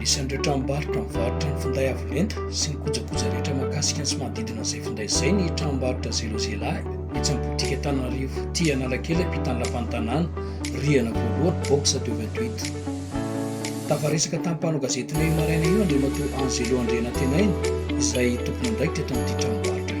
Anisan'ireo tranombarotra mivarotra ny finday avo lenta sy ny kojakoja rehetra mahakasika ny sy manodidina izay finday izay ny tranombarotra Zero Zialahy etsy amin'ny botika Antananarivo Tia Analakely ampitan'ny lapan'ny tanàna, rihana voalohany, box 228. Tafaresaka tamin'ny mpanao gazetinay io maraina io Andriamatoa Angelo Andrianantenaina izay tompon'andraikitra eto amin'ity tranombarotra ity.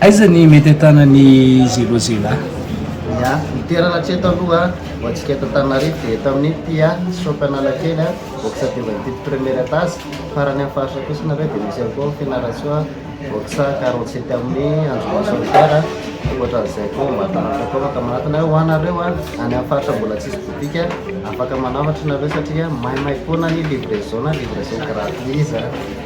Aiza ny mety ahitana ny zelo zela? Ya, ny toerana hatreto aloha ho antsika eto Antananarivo dia eto amin'ny Pia shop Analakely, box telo amby fito premier etage. Farany amin'ny faritra kosa nareo dia misy ihany koa ao Fianarantsoa, box quarante sept avenue Andriamatoa Solidaire. Ankoatran'izay koa ao Ambatonahitra koa afaka manantona. Ho anareo any amin'ny faritra mbola tsisy boutique, afaka manambatra nareo satria maimay foana ny livraison, livraison gratuit izany.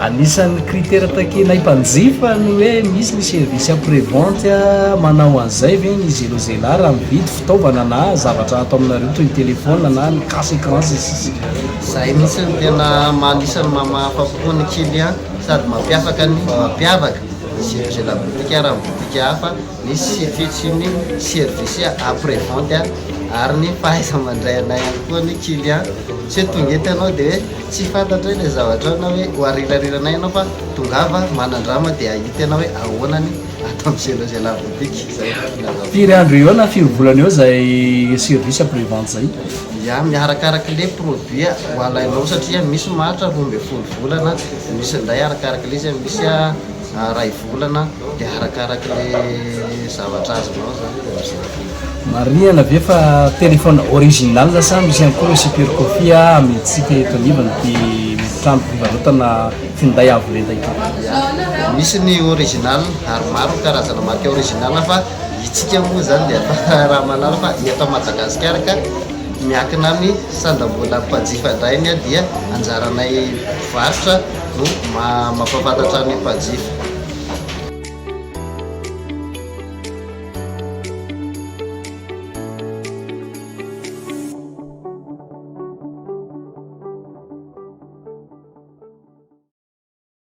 Anisan'ny critère takianay mpanjifa ny hoe misy ny service après vente manao an'izay ve ny zelozela raha mividy fitaovana na zavatra ato aminareo toy ny téléphone na ny casse écran sy ny sisa Izay mihitsy no tena anisan'ny maha mahafa-po ny client sady mampiavaka ny mampiavaka ny zelozela boutique raha ny boutique hafa. Misy CFC ny service après vente ary ny fahaiza-mandray anay ihany koa ny client. Tsy hoe tonga eto ianao dia hoe tsy fantatro ilay zavatrao na hoe ho arirariranay ianao fa tongava manandrama dia hahita ianao hoe ahoana ny ato amin'ny Cellos et la boutique. Izay no filazako. Firy andro eo na firy volana eo izay service après vente izay? Ya, miaraka araka le produit ho alainao satria misy maharitra roa ambin'ny folo volana, misy indray arakaraky le izy, misy Iray volana dia arakaraky le zavatra azonao zany izy amizay vita. Marihana ve fa téléphone original sa misy ihany koa ireo super copie a amin'ny tsy tenitonivon'ity trano fivarotana finday avo lenta ity? Ya, misy ny original ary maro ny karazana marika original fa itsika moa zany dia efa raha mahalala fa eto Madagasikara ka miankina amin'ny sandam-bolan'ny mpanjifa indray ny dia anjaranay mpivarotra. no mampahafantatra ny mpanjifa.